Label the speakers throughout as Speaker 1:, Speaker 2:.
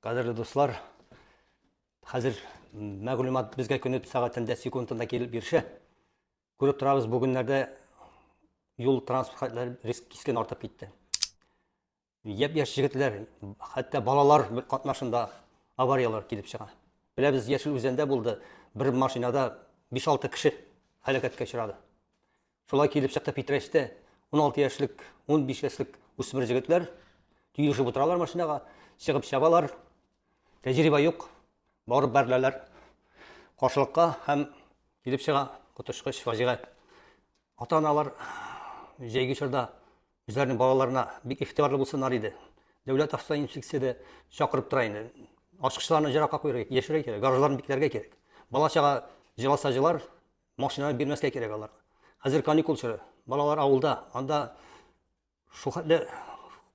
Speaker 1: Кадерле дуслар, хәзер мәгълүмат безгә көнет сәгатендә, секундында килеп ирешә. Күреп торабыз, бүгеннәрдә юл транспорт риск кискен артып китте. Япь-яшь җегетләр, хәтта балалар катнашында авариялар килеп чыга. Беләбез, Яшел Үзәндә булды, бер машинада 5-6 кеше һәлакәткә очрады. Шулай килеп чыкты Питрәчтә. Уналты яшьлек, унбиш яшьлек үсмер җегетләр төелешеп утыралар машинага, чыгып чабалар. Тәҗрибә юк, барып бәреләләр каршылыкка һәм килеп чыга коточкыч фаҗига. Ата-аналар җәйге чорда үзләренең балаларына бик ихтибарлы булсыннар иде. Дәүләт автоинспекциясе чакырып тора инде. Ачкычларны җыракка куярга, яшерә кирәк, гаражларны бикләргә кирәк. Бала-чага җыласа җылар, Машина бирмәскә кирәк алар. Хәзер каникул чоры. Балалар авылда. Анда шул хәтле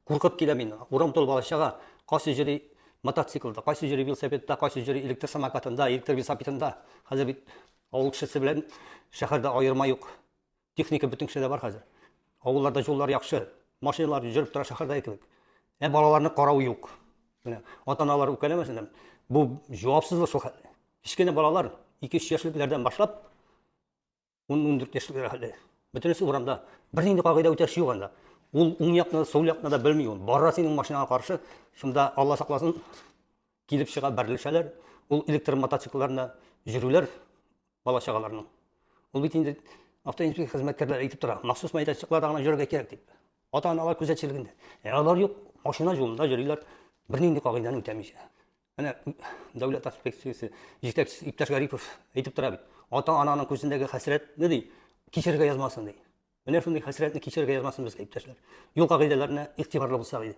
Speaker 1: куркып килә мин. Урам тулы балачага. Кайсы җөри мотоциклда, кайсы җөри велосипедта, кайсы җөри электр самокатында, электр велосипедында. Хәзер бит авыл кешесе белән шәһәрдә аерма юк. Техника бөтен кешедә бар хәзер. Авылларда юллар яхшы. Машиналар җөреп тора шәһәрдә кебек. Ә балаларны карау юк. Менә ата-аналар үкәләмәсеннәр. Бу җавапсызлык шул хәтле. Кечкенә балалар, 2-3 яшьлекләрдән башлап, 10-14 яшьлекләр хәлле. Бөтенесе урамда. Бер нинди кагыйдә үтәш юк анда. Ул уң якны, сул якны да белми ул. Бара синең машинага каршы, шунда Алла сакласын, килеп чыга бәрелешәләр. Ул электр мотоциклларына җөрүләр бала чагаларның. Ул бит инде автоинспекция хезмәткәрләре әйтеп тора, махсус мәйданчыкларда гына йөрергә кирәк дип. Ата-аналар күзәтчелегендә. Ә алар юк, машина юлында йөриләр, бер нинди кагыйдәне үтәмичә. Менә дәүләт инспекциясе җитәкчесе иптәш Гарипов әйтеп тора бит. Ата-ананың күзендәге хәсрәтне ди, кичерергә язмасын ди. Менә шундый хәсрәтне кичерергә язмасын безгә иптәшләр. Юл кагыйдәләренә игътибарлы булсак иде.